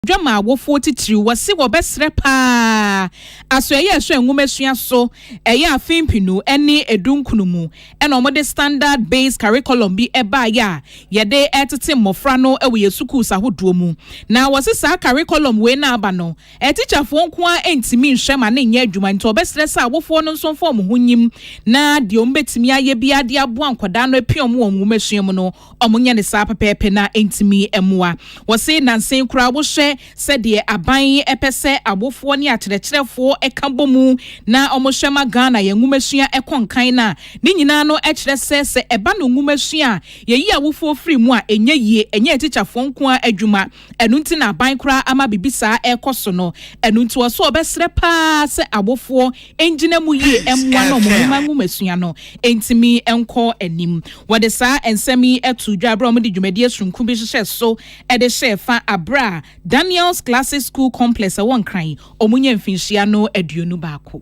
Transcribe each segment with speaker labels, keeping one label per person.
Speaker 1: dwa ma awofoɔ titiriw. Wɔse wɔbɛsrɛ pa ara asoɛeɛ a ɛsɔ nwomasua so ɛyɛ afe mpenu ne edunkunu mu na wɔde standard based curriculum bi baeɛ a yɛde retete mmɔfra no wɔ yɛn sukuus ahodoɔ mu. Na wɔse saa curriculum wei no a aba no, atikyafoɔ nko ara ntumi nhwɛ ma no nyɛ adwuma nti wɔbɛsrɛ sɛ awofoɔ no nso mfa wɔn ho nyim na deɛ wɔbɛtumi ayɛ biara de aboa nkwadaa no apia wɔn wɔ nwomasua mu no, Wɔnyɛ no saa pɛpɛɛpɛ na entumi mmoa. Wɔse nnansa yi koraa wohwɛ sɛdeɛ aban pɛ sɛ awofoɔ ne akyerɛkyerɛfoɔ ka bɔ mu na wɔhwɛ ma Ghana yɛn nwomasua kɔ nkan no a, ne nyinaa no kyerɛ sɛ, sɛ ɛba no nwomasua a, yɛyi awofoɔ firi mu a, ɛnyɛ yie. Ɛnyɛ atikyafoɔ nko ara adwuma. Ɛno nti na aban koraa ama biribi saa ɛrekɔ so no. Ɛno nti wɔ sɛ wɔbɛsrɛ pa ara sɛ awofoɔ ngyina mu yie mmoa na wɔn mma nwomasua no ntumi nkɔ anim. Wɔde saa nsɛm yi too dwa berɛ a wɔde dwumadie sononko bi hyehyɛ so de hyɛɛ fa berɛ a Daniels Classic School Complex a ɛwɔ Nkran wɔnya mfinhyia no aduonu baako.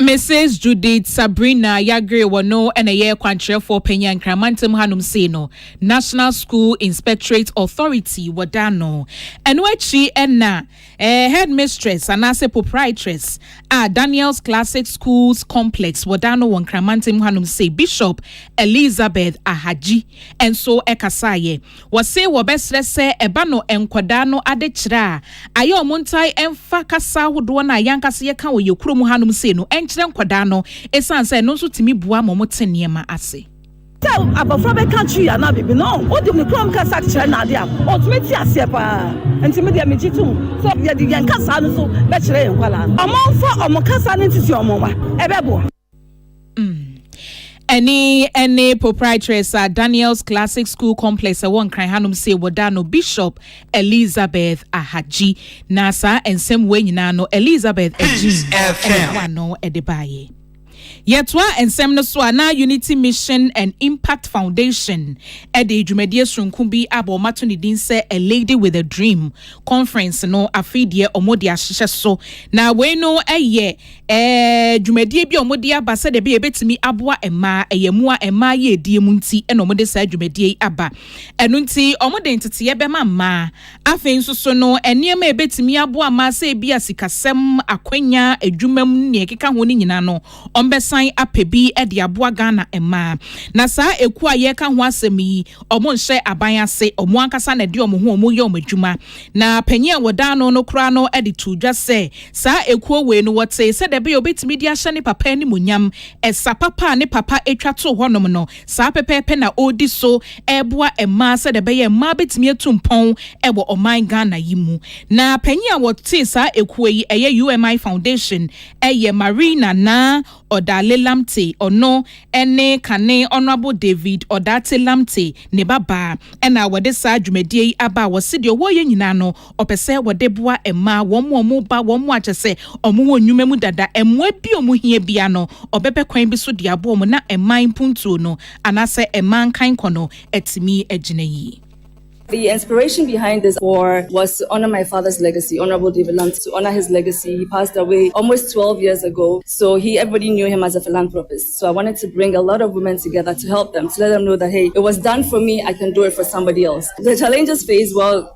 Speaker 1: Mrs Judith Sabrina Yagre wɔ no na ɛyɛ kwankyerɛfoɔ panyin a Nkran mantam hanom sei no National School Inspectorate Authority wɔda ano. Ɛno akyi na eh, Headmistress anaasɛ Proprietress a Daniel's Classic Schools Complex wɔda ano wɔ Nkran mantam hanom sei Bishop Elizabeth Ahagyi nso ɛkasaeɛ. Wɔse wɔbɛsrɛ sɛ ɛba no nkɔdaa no adekyerɛ a ayɛ ɔmo ntae mfa kasa ahodoɔ no a yɛankasa yɛka wɔ yɛ kuro mu hanom sei no nkyerɛ nkɔdaa no esiane sɛ ɛno nso tumi boa ma ɔmo te nneɛma ase. Sɛ abɔfra
Speaker 2: bɛka twii anaa biribi no, wode ne krom kasa kyerɛ no adeɛ a, ɔtumi te aseɛ pa ara. Nti me deɛ megye tom sɛ yɛde yɛn kasaa no so bɛkyerɛ yɛn nkwadaa no. Ɔmomfa ɔmo kasa no ntete ɔmo mma, ɛbɛboa.
Speaker 1: Ɛne ɛne proprietress a Daniel's Classic School Complex ɛwɔ Nkran hanom se wɔda no Bishop Elizabeth Ahagyi na saa nsɛm wei nyinaa no Elizabeth Agyin ɛne wa no ɛde baayɛ. Yɛtoa nsɛm no so a na Unity Mission and Impact Foundation ɛde dwumadie soronko bi a wɔn ato ne din sɛ A Lady with a Dream Conference no afei deɛ wɔn de ahyehyɛ so na wei no ɛyɛ Ɛɛ, dwumadie bi a wɔde aba sɛdeɛ ɛbɛyɛ ɛbɛtumi aboa mmaa. Ɛyɛ mmoa a mmaa yɛ die mu nti na wɔde saa dwumadie yi aba. Ɛno nti, wɔde nteteeɛ bɛma mmaa. Afei nso so no, nneɛma a ɛbɛtumi aboa mmaa sɛ ebi a sikasɛm, akwanya, adwuma mu ne deɛ ɛkeka ho no nyinaa no, wɔbɛsan apɛ bi de aboa Ghana mmaa. Na saa ekuo a yɛreka ho asɛm yi, wɔnhyɛ aban ase. Wɔn ankasa na ɛde wɔn ho wɔn yɛ wɔn adwuma. Na panin a wɔda ano no koraa no de too dwa sɛ, Saa ekuo wei no, wɔtee sɛ deɛ ɛbɛyɛ a ɔbɛtumi de ahyɛ ne papa animuonyam, ɛsa papa a ne papa twa too hɔnom no, saa pɛpɛɛpɛ na ɔredi so reboa mmaa sɛdeɛ ɛbɛyɛ a mmaa bɛtumi atu mpɔn wɔ ɔman Ghana yi mu. Na panin a wɔtee saa ekuo yi, ɛyɛ UMI Foundation, yɛ Marie Nana Odale Lamptey, ɔno ne kane Honourable David Odaate Lamptey ne babaa na wɔde saa dwumadie yi aba a wɔse deɛ wɔreyɛ nyinaa no, Ɔpɛ sɛ wɔde boa mmaa, wɔn a wɔreba, wɔn a kyɛ sɛ wɔwɔ nnwuma mu dada, mmoa bi a wɔhia biara no, ɔbɛpɛ kwan bi so de aboa wɔn na mmaa mpuntuo no anaasɛ mmaa nkankɔ no atumi agyina yie. The inspiration
Speaker 3: behind this war was to honor my father's legacy, Honorable David Lamptey, to honor his legacy, he passed away almost 12 years ago, so he, everybody knew him as a philanthropist, so I wanted to bring a lot of women together to help them, to let them know that hey, it was done for me, I can do it for somebody else. The challenges faced, well,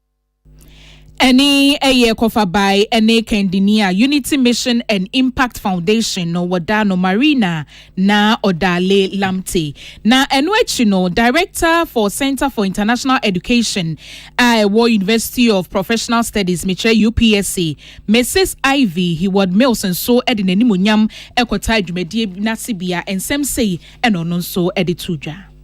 Speaker 3: Ɛne
Speaker 1: ɛyɛ kɔfabae ne kandini a Unity Mission and Impact Foundation no wɔdaa no Marina na Odale Lamte. Na ɛno akyi no, Director for Center for International Education a ɛwɔ University of Professional Studies, mekyerɛ UPSC, Mrs. Ivy Heward Mills nso de n'animuonyam kɔtaa dwumadie no asebea. Nsɛm sei na ɔno nso de too dwa.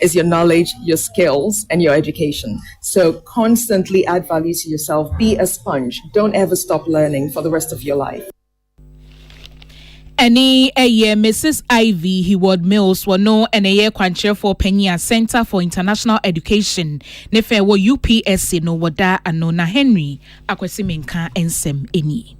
Speaker 4: is your knowledge, your skills, and your education. So constantly add value to yourself. Be a sponge. Don't ever stop learning for the rest of your life. Any
Speaker 1: a year, Mrs. Ivy Heward Mills wɔ no ɛna ɛyɛ kwankyerɛfoɔ panyin a Center for International Education ne fɛ wɔ UPSC no wɔda ano na Henry Akwasi Menka nsɛm nie.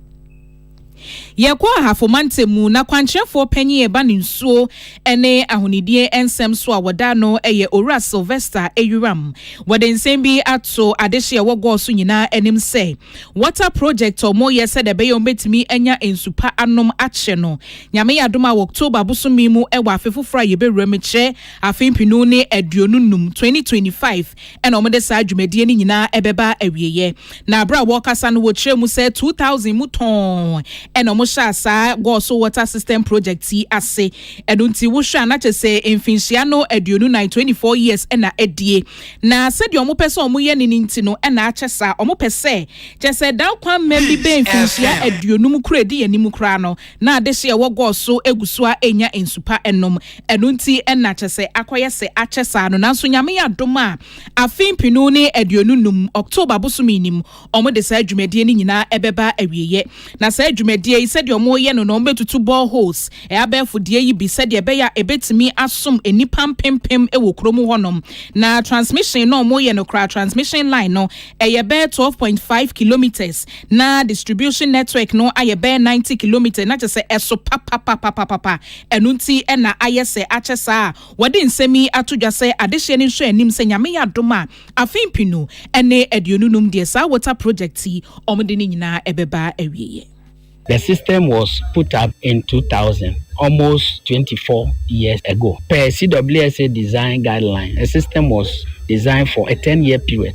Speaker 1: Yɛkɔɔ Ahafo Mantam mu, na kwankyerɛfoɔ panin a ɛba no nsuo ne ahonidie nsɛm so a wɔda ano yɛ Owura Sylvester Ayuram. Wɔde nsɛm bi ato adehye a ɛwɔ Gɔɔ so nyinaa anim sɛ water project a wɔreyɛ sɛdeɛ ɛbɛyɛ a wɔbɛtumi anya nsu pa anom akyɛ no, Nyame yɛ adom a wɔ October bosome mu wɔ afe foforɔ a yɛbɛwura mu kyerɛ afe mpenu ne aduonu nnum, 2025, Ɛnna wɔde saa dwumadie no nyinaa bɛba awieeɛ. Na berɛ a wɔrekasa no, wɔkyerɛɛ mu sɛ 2000 mu tɔnn na wɔhyɛɛ saa Goso Water System Project yi ase. Ɛno nti wohwɛ a na kyerɛ sɛ mfinhyia no aduonu nan, 24 years, na adie. Na sɛdeɛ wɔpɛ sɛ wɔyɛ no no nti no na akyɛ saa. Wɔpɛ sɛ kyerɛ sɛ dan kwan mmɛ bi bɛɛ mfinhyia aduonum koraa ɛdi yɛn anim koraa no, na adehye a ɛwɔ gɔɔ so gu so ara renya nsu pa nom. Ɛno nti na kyerɛ sɛ akɔyɛ sɛ akyɛ saa no. Nanso Nyame adom a, afe mpenu ne aduonu num, October bosome ni mu, wɔde saa dwumadie no nyinaa bɛba awieɛ. Na saa dwumadie yi, sɛdeɛ wɔreyɛ no no, wɔbɛtutu boreholes, abɛɛfo deɛ yi bi, sɛdeɛ ɛbɛyɛ a ɛbɛtumi asom nnipa mpempem wɔ kuro mu hɔnom. Na transmission no a wɔreyɛ no koraa, transmission line no, ɛyɛ bɛyɛ twelve point five kilometres. Na distribution network no ayɛ bɛyɛ ninety kilometres, na kyerɛ sɛ ɛso papapapapapa. Ɛno nti na ayɛ sɛ akyɛ saa a wɔde nsɛm yi ato dwa sɛ adehyeɛ no nsɔanim sɛ Nyame yɛ adom a afe mpenu ne aduonu num deɛ saa water project yi wɔde no nyinaa ɛbɛba awieɛ. The system
Speaker 5: was put up in two thousand, almost twenty four years ago. Per CWSA design guidelines, the system was designed for a ten year period.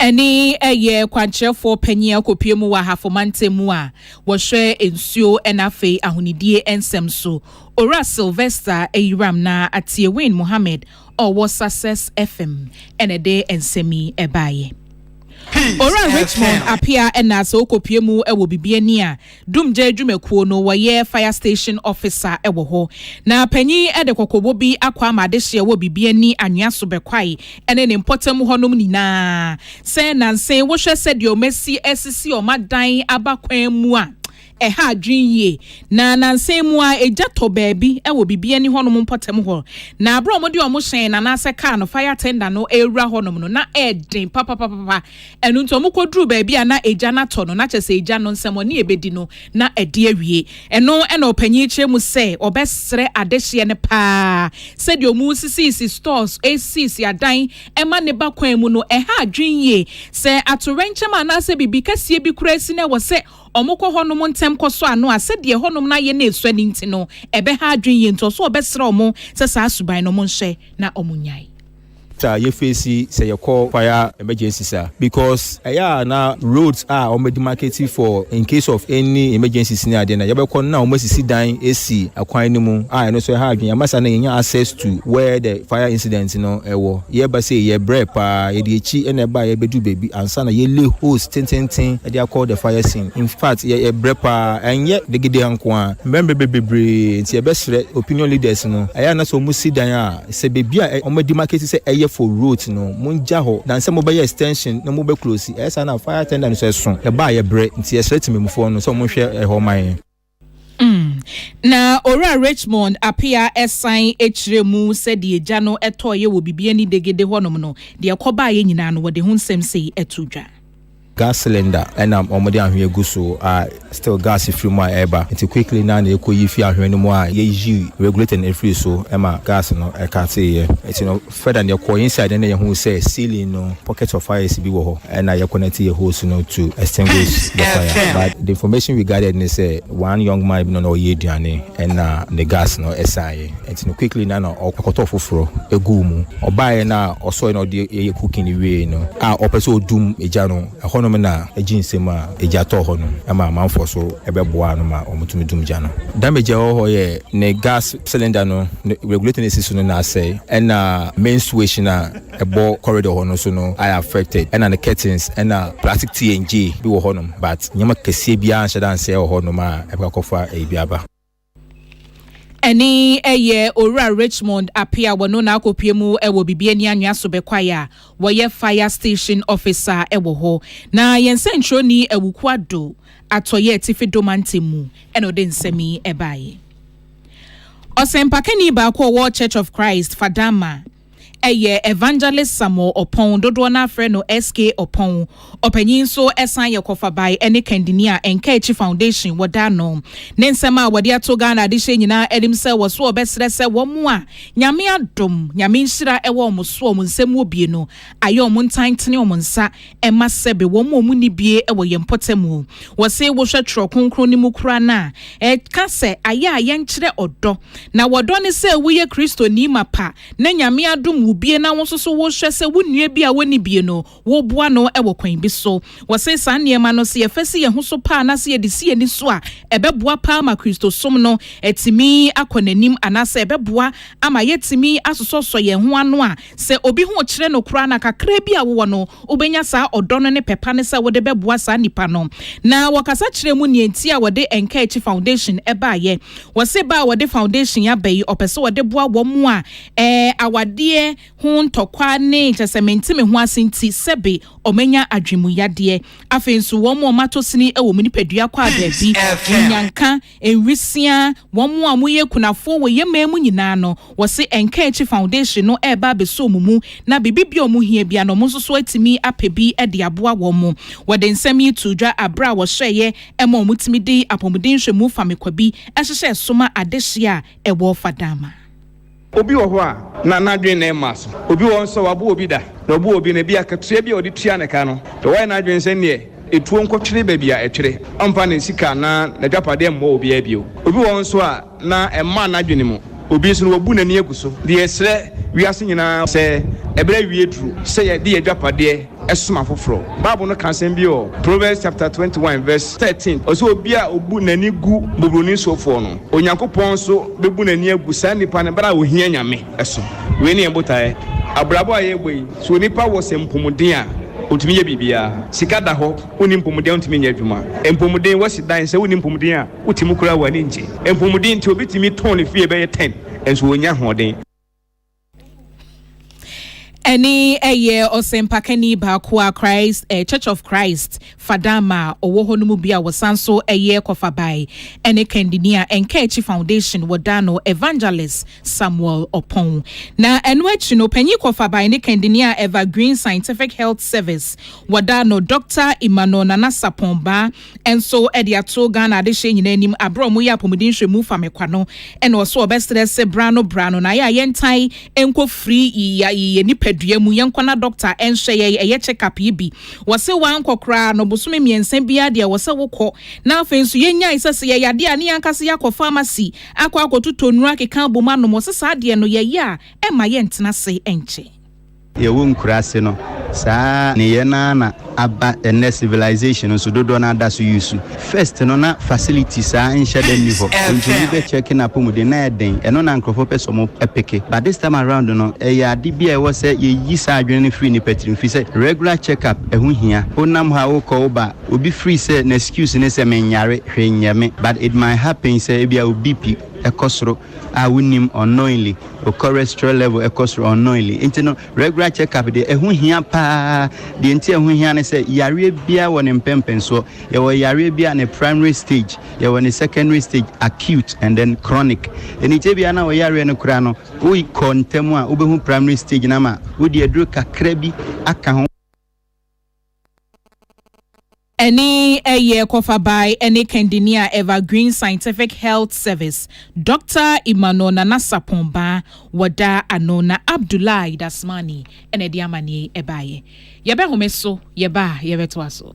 Speaker 1: Ɛne ɛyɛ kwankyerɛfoɔ panin akɔpue mu wɔ Ahafo mantam mu a wɔhwɛ nsuo na afei ahonidie nsɛm so, Owura Sylvester Ayiram na Atiewin Mohammed a ɔwɔ Success FM na ɛde nsɛm yi baeɛ. Owura Richmond Apea na sɛ wokɔpue mu wɔ Bibiani a, Dumgya adwumakuo no wɔyɛ fire station officer wɔ hɔ na panyin yi de kɔkɔbɔ bi akɔ ama adehyeɛ wɔ Bibiani anwea so Bɛkwae ne ne mpɔtam hɔnom nyinaa sɛ nanse wohwɛ sɛdeɛ wɔn asi asisi wɔn adan aba kwan mu a ɛha adwene yie na nanse mu a egya tɔ baabi wɔ Bibiani hɔnom mpɔtam hɔ na abere a wɔde wɔn hyɛn no anaasɛ kaa no fire tender no ɛrewura hɔnom no na ɛden papapapapa Ɛno nti wɔkɔduruu baabi a na agya no atɔ no, na kyerɛ sɛ agya no nsɛmmɔne a ɛbɛdi no, na adi awie. Ɛno na ɔpanin yi kyerɛ mu sɛ ɔbɛsrɛ adehyeɛ no pa ara. Sɛdeɛ wɔresisiisi stores, resisiisi adan ma ne ba kwan mu no, ɛha adwene yie. Sɛ atoyerɛnkyɛm anaasɛ biribi kɛseɛ bi koraa si na ɛwɔ sɛ wɔkɔ hɔnom ntɛm kɔsɔ ano a, sɛdeɛ ɛhɔnom no ayɛ na ɛsua no nti no, ɛbɛha adwene yie. Nti ɔse ɔbɛsrɛ wɔn sɛ saa suban no wɔnhyɛ na wɔnnyae. taa yɛ
Speaker 6: fesi sɛ yɛkɔ fire emergencies a because ɛyɛ a na roads a wɔn bɛdi market for in case of any emergencies ne adeɛ na yɛbɛkɔ na wɔn asisi dan esi akwan no mu a ɛno nso ɛha adwene amasa na yɛnya access to where the fire incident no ɛwɔ yɛba sɛ yɛ brɛ paa yɛde akyi na ɛba yɛbɛdu baabi ansa na yɛle hose tententen ɛde akɔ the fire scene in fact yɛ brɛ paa ɛnyɛ degede nko a mmerɛ mmerɛ bebree nti yɛbɛsrɛ opinion leaders no ɛyɛ a na sɛ wɔn si dan a Sɛ baabi a wɔn adimakɛsi sɛ ɛyɛ for rote no mo ngya hɔ na sɛ mo bɛyɛ extension na mo bɛ close ɛyɛ saa na fire attendant nso ɛso ɛba a yɛ brɛ nti yɛ srɛ temanmufoɔ no sɛ wɔn nhwɛ ɛhɔ ma yɛn. Mm.
Speaker 1: Na Owura Richmond Apea san kyerɛɛ mu sɛ deɛ gya no tɔeɛ wɔ Bibiani Degede hɔnom no, deɛ ɛkɔbaeɛ nyinaa no, wɔde ho nsɛm sei to dwa. Gas
Speaker 6: cylinder na wɔde anhwea gu so a still gas firi mu a ɛreba nti quickly no ara na yɛkɔyi firi anhwea no mu a yɛyi regulator no firi so ma gas no ɛkateeɛ. Nti no further no yɛkɔɔ inside no na yɛhuu sɛ ceiling no pockets of fires bi wɔ hɔ na yɛ connect yɛ hose no to extinguish the fire but the information we gathered ne sɛ one young man bi no na ɔyɛ aduane na ne gas no saeɛ. Enti no quickly na na ɔkɔtɔ foforɔ guu mu. Ɔbaeɛ na ɔsɔre na ɔde yɛ cooking no wieeɛ no a ɔpɛ sɛ ɔdum gya no, ɛhɔnom na agye nsam a egya tɔɔ hɔ no ma amanfoɔ so bɛboaa no ma wɔtumi dum gya no. Damage a ɛwɔ hɔ yɛ ne gas cylinder no ne regulator no a ɛsi so no na asɛe ɛna main switch no a ɛbɔ corridor hɔ no nso no ayɛ affected ɛna ne curtains ɛna plastic TNJ bi wɔ hɔnom but nneɛma kɛseɛ biara anhyɛ da ansɛe wɔ hɔnom a ɛbɛkɔ akɔfa ɛyi bi aba. Ɛne
Speaker 1: ɛyɛ Owura Richmond Apea a wɔno na akɔpue mu wɔ Bibi Ani Anwea so bɛkwae a wɔyɛ Fire Station Officer wɔ hɔ. Na yɛn sɛnkyerɛwni Awuku Addo, Atɔeɛ Atifi Dɔ Mantam mu, na ɔde nsɛm yi baeɛ. Ɔsɛmpakani baako a ɔwɔ Church of Christ Fadama Ɛyɛ Evangelist Samuel Ɔpɔn, dodoɔ no ara frɛ no SK Ɔpɔn, ɔpanyin nso san yɛ Kɔfabae ne Kandini a Nkaakyi Foundation wɔda ano. Ne nsɛm a wɔde ato Ghana adehyeɛ nyinaa anim sɛ wɔ so ɔbɛsrɛ sɛ wɔn a Nyame adom, Nyame nhyira wɔ wɔn so a wɔn nsam wɔ bie no ayɛ wɔn ntan tene wɔn nsa Ɛmma sɛbe wɔn a wɔn nni bie wɔ yɛn mpɔtam o. Wɔse wohwɛ twerɛ kronkron no mu koraa no a, ɛka sɛ ayɛ a yɛnkyerɛ ɔdɔ. Na wɔdɔ ne sɛ woyɛ Kristoni mapa na Nyame adom wo bie na wo nso so wohwɛ sɛ wo nua bi a ɔnni bie no woboa no wɔ kwan bi so. Wɔse saa nneɛma no sɛ yɛfa si yɛn ho so paa na sɛ yɛde si yɛn ani so a, ɛbɛboa paa ma Kristosom no atumi akɔ n'anim anaasɛ ɛbɛboa ama yɛatumi asosɔsosɔ yɛn ho ano a Sɛ obi ho kyere no koraa na kakraa bi a wowɔ no, wubenya saa ɔdɔ no ne pɛ pa no sɛ wode bɛboa saa nipa no. Na wɔkasa kyerɛɛ mu nea enti a wɔde Nkaakyi Foundation baeɛ. Wɔse ba a wɔde foundation yi aba yi, ɔpɛ sɛ ɔde boa wɔn a ɛɛ awadeɛ ho ntɔkwa ne kyerɛ sɛ mente me ho ase nti sɛbe wɔanya adwenmuyadeɛ. Afei nso wɔn a wɔatɔ sini wɔ wɔn nipadua kɔ a baabi, nyanka, Nwisiaa, wɔn a wɔyɛ akunafoɔ wɔ yɛn man mu nyinaa no, wɔse Ɛnka Akyi Foundation no reba abɛsɔ wɔn mu na biribi bi a wɔn hia biara no wɔn nso so atumi apɛ bi de aboa wɔn. Wɔde nsɛm yi too dwa berɛ a wɔhyɛeɛ ma wɔtumi de apɔmuden nhwɛmu famekwa bi hyehyɛɛ so ma adehyeɛ a ɛwɔ Fadama. Obi wɔ
Speaker 7: hɔ a, na n'adwene mma so. Obi wɔ hɔ nso a, wabu obi da, na ɔbu obi no, ebia akatua bi a ɔde tua ne ka no, na wayɛ n'adwene sɛ nea etuo nkɔtwere baabi a ɛtwere, ɔremfa ne sika anaa n'adwapadeɛ mmɔ obiara bio. Obi wɔ hɔ nso a, na ɛmmaa n'adwene mu. Obi nso no, wabu n'ani agu so. Deɛ yɛsrɛ wiase nyinaa sɛ, ɛberɛ awie duru sɛ yɛde yɛn adwapadeɛ som afoforo. Bible no ka asɛm bi wɔ Proverbs chapter twenty one verse thirteen, ɔsɛ, Obi a obu n'ani gu buburoni sofoɔ no, Onyankopɔn nso bɛbu n'ani agu saa nipa no bere a ɔhia Nyame so. Wei ne yɛn botaeɛ. Abrabɔ a yɛrebɔ yi, sɛ onipa wɔ sɛ mpomuden a, ɔtumi yɛ biribiara. Sika da hɔ, wonni mpomuden a wontumi nyɛ adwuma. Mpomuden, woasi dan, sɛ wonni mpomuden a, wote mu koraa a w'ani nngye. Mpomuden nti, obi tumi tɔn ne fie bɛyɛ ten, nso ɔnnya ahoɔden.
Speaker 1: Ɛne ɛyɛ ɔsɛmpakani baako a Christ eh, Church of Christ Fadama a ɔwɔ hɔ no mu bi a wɔsan so ɛyɛ kɔfabae ɛne kandini a Nkɛakyi Foundation wɔdaa no Evangelist Samuel Ɔpɔn. Na ɛno akyi no panyin kɔfabae ne kandini a Evergreen Scientific Health Service wɔdaa no Dr. Emmanuel Nana Sapɔn Baa nso de ato Ghana adehyeɛ nyinaa anim aberɛ a wɔyɛ apɔmuden nhwɛmu fa me kwa no na ɔso ɔbɛsrɛ se bra no bra no na ayɛ a yɛntan nkɔ firi yɛ nipadua mu yɛnkɔna dɔkta nhyɛ yɛ ɛyɛ check up yi bi wɔse wankɔ koraa no bosome mmiɛnsa biara deɛ wɔsɛ wokɔ na afei nso yɛnyae sɛ sɛ yɛyade a ne yɛnkasa yɛakɔ pharmacy akɔ akɔtotɔ nnuro akeka abom anom wɔse saa deɛ no yɛyɛ a ɛmma yɛntena se nkyɛ Yɛwɔ
Speaker 8: nkuraase no, saa nneyɛɛ no ara na aba ɛnnɛ civilization no so, dodoɔ no ara da so use. First no na facility saa nhyɛ da nni hɔ, nti obi bɛ check no apɔmuden no ayɛ den, ɛno na nkorɔfoɔ pɛ sɛ wɔn peke, but this time around no ɛyɛ ade bi a ɛwɔ sɛ yɛyi saa adwene no firi nnipa tirim, firi sɛ regular check up ɛho hia, wonam hɔ a wokɔ woba, obi firi sɛ n'excuse ne sɛ mennyare, hwee nyɛ me, but it might happen sɛ ebia wo BP kɔ soro. Ah wonim unknowingly wo cholesterol level ɛkɔ soro unknowingly nti no regular check up deɛ ɛho hia paa deɛ nti ɛho hia ne sɛ yareɛ biara wɔ ne mpɛmpɛnsoɔ yɛwɔ yareɛ bi a ne primary stage yɛwɔ ne secondary stage acute and then chronic ɛni kyɛ biara na wɔ yareɛ no koraa no wo kɔ ntam a wobɛhu primary stage no ama wode aduro kakra bi aka ho
Speaker 1: Ɛne ɛyɛ kɔfa bae ɛne kandini a Evergreen Scientific Health Service, Doctor Emmanuel Nana Sarpong Baa wɔda ano na Abdoulaye Dasmani na ɛde amanneɛ yi ɛbaeɛ. Yɛbɛhome so yɛba a yɛbɛtoa so.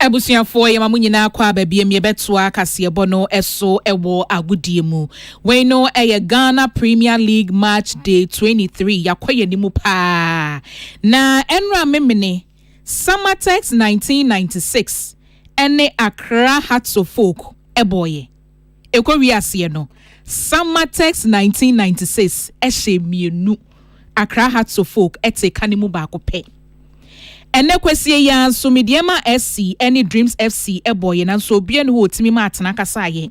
Speaker 1: abusuafoɔ yɛma mo nyinaa kɔ aba biam yɛbɛtoa kaseɛbɔ no so wɔ agodie mu wei no ɛyɛ ghana premier league match day 23 yɛakɔ yɛn anim paa na ɛnora memene samatex 1996 ɛne accra hearts of folk ɛbɔɔyɛ Ɛkɔwie aseɛ no, Samma Tex 1996 hyɛɛ mmienu, Accra Hearts of Oak tee ka no mu baako pɛ. Ɛnnɛ Kwasie yi ara nso, Medeɛma FC ne Dreams FC bɔeɛ nanso obiara nni hɔ a ɔtumi ma Atena kasaeɛ.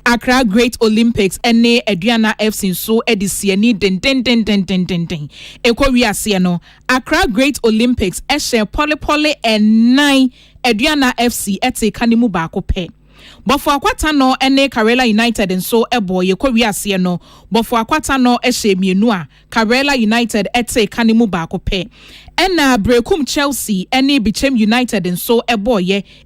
Speaker 1: Accra Great Olympics ne Aduana FC nso de sii ani dendendendendenden. Ɛkɔwie aseɛ no, Accra Great Olympics hyɛɛ pɔlepɔle nnan, Aduana FC tee ka no mu baako pɛ. Bofoakwa Tanɔ ne Karela United nso bɔɔ yɛ kɔwie aseɛ no, Bofoakwa Tanɔ hyɛɛ mmienu a Karela United tee ka no mu baako pɛ. Ɛna Berekum Chelsea ne Bikyem United nso bɔɔ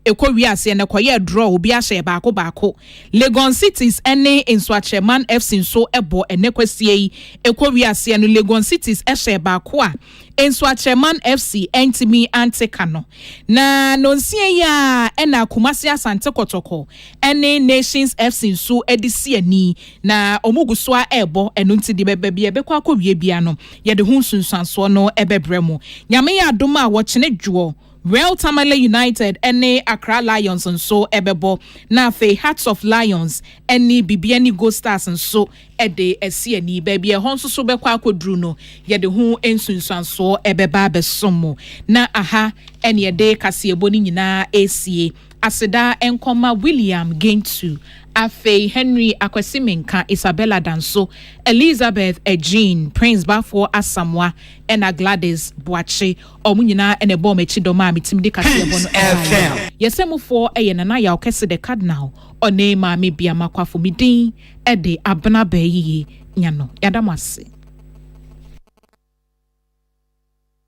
Speaker 1: yɛ kɔwie aseɛ no, ɛkɔyɛɛ draw, obiara hyɛɛ baako baako. Legon Cities ne Nsuakyerɛman FC nso bɔɔ ɛnɛ kwasia yi kɔwie aseɛ no, Legon Cities hyɛɛ baako a Nsoatreman FC antumi ante ka no, na nɔnsia yi ara na Kumasi Asante Kɔtɔkɔ ne Nations FC nso de si ani, na wɔgu so ara rebɔ, ɛno nti deɛ baabi a ɛbɛkɔ akɔwie biara no, yɛde ho nsunsuansoɔ no bɛbrɛ mo. Nyame yɛ adom a, wɔkyene dwoɔ, Real Tamale United ne Accra Lions nso bɛbɔ, na afei Hearts of Lions ne Bibiani Gold Stars nso de asi ani. Baabi a ɛhɔ nso so bɛkɔ akɔduru no, yɛde ho nsunsuansoɔ bɛba abɛsom mo. Na aha ne yɛde kaseɛbɔ no nyinaa resie. Aseda nkɔma William Gentsu, afei Henry Akwasi Menka, Isabella Danso, Elizabeth Agying, Prince Bafoɔ Asamoah, ɛna Gladys Boakye. Wɔn nyinaa na ɛbɔɔ m'akyi dɔm a metumi de kaseɛbɔ no baeɛ. Yɛsɛmufoɔ yɛ Nana Yaw Kɛse The Cardinal, ɔne Maame Biama Kwafo. Me din ɛde abena abɛɛ yiye nya no. Yɛada mo ase.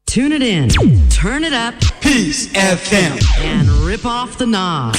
Speaker 9: Tune it in,
Speaker 10: turn
Speaker 9: it up, Peace FM, and rip
Speaker 10: off
Speaker 9: the knob.